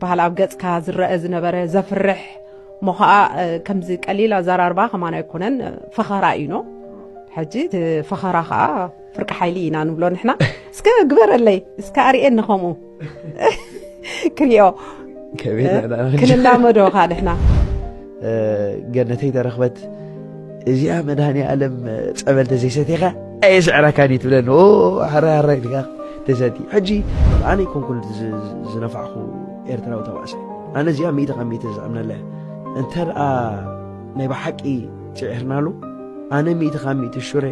በሃል ኣብ ገጽካ ዝረአ ዝነበረ ዘፍርሕ እሞ ከዓ ከምዚ ቀሊል ኣዘራርባ ከማን ኣይኮነን ፈኸራ እዩ ኖ ሕጂ እቲ ፈኸራ ከዓ ፍርቂ ሓይሊ ኢና ንብሎ ንሕና እስከ ግበረለይ እስከ ኣርእየኒ ከምኡ ክሪኦ ክንላመዶ ከዓ ንሕና ገነተይ ተረኽበት እዚኣ መድሃኒ ኣለም ጸበል ተዘይሰቲኻ ኣየስዕረካን እዩ ትብለኒ ሓራይ ሓራይ ኢልካ ተሰቲ ሕጂ ኣነ ይኮንኩን ዝነፋዕኹ ኤርትራዊ ተባእሳይ ኣነ እዚኣ ሚእቲ ካብ ሚእቲ ዝኣምነላ እንተ ደኣ ናይ ብሓቂ ፅዒርናሉ ኣነ ሚእቲ ካብ ሚእቲ ሹረ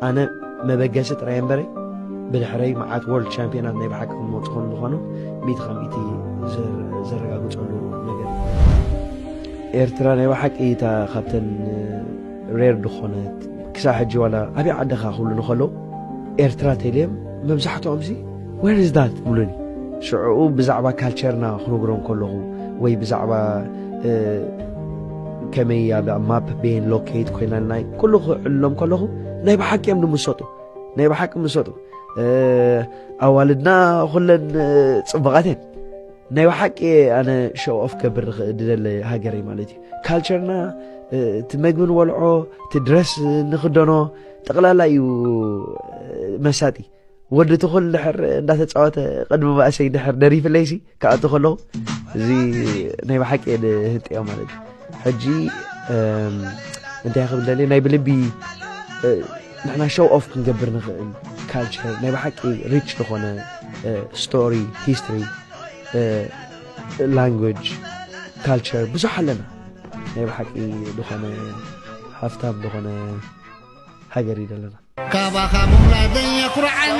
ኣነ መበገሲ ጥራይ እምበረይ ብድሕረይ መዓት ወርልድ ቻምፒዮናት ናይ ብሓቂ ክመፁ ከም ዝኾኑ ሚእቲ ካብ ሚእቲ ዘረጋግፀሉ ነገር እዩ። ኤርትራ ናይ ብሓቂ እታ ካብተን ሬር ዝኾነት ክሳዕ ሕጂ ዋላ ኣብይ ዓድኻ ክብሉ ንኸለው ኤርትራ ቴሌም መብዛሕትኦምሲ Where is that? ይብሉኒ። ሽዕኡ ብዛዕባ ካልቸርና ክነግሮም ከለኹ ወይ ብዛዕባ ከመይ ኣብ ማፕ ቤን ሎኬት ኮይና ናይ ኩሉ ክዕልሎም ከለኹ ናይ ብሓቂ እዮም ንምሰጡ ናይ ብሓቂ ምሰጡ ኣዋልድና ኩለን ፅቡቓት እየን ናይ ብሓቂ ኣነ ሸው ኦፍ ከብር ዝደለ ሃገር እዩ ማለት እዩ ካልቸርና እቲ መግቢ ንበልዖ እቲ ድረስ ንክደኖ ጠቕላላ እዩ መሳጢ ወዲ ትኹል ድሕር እንዳተፃወተ ቅድሚ ባእሰይ ድሕር ደሪፍለይሲ ክኣቱ ከለኹ እዚ ናይ ብሓቂ እየ ድህንጥዮ ማለት እዩ ሕጂ እንታይ ክብል ደልየ ናይ ብልቢ ንሕና ሾው ኦፍ ክንገብር ንኽእል ካልቸር ናይ ብሓቂ ሪች ዝኾነ ስቶሪ ሂስትሪ ላንጉጅ ካልቸር ብዙሕ ኣለና ናይ ብሓቂ ዝኾነ ሃፍታም ዝኾነ ሃገር እዩ ዘለና ካባኻ ምውላደይ የኹርዓኒ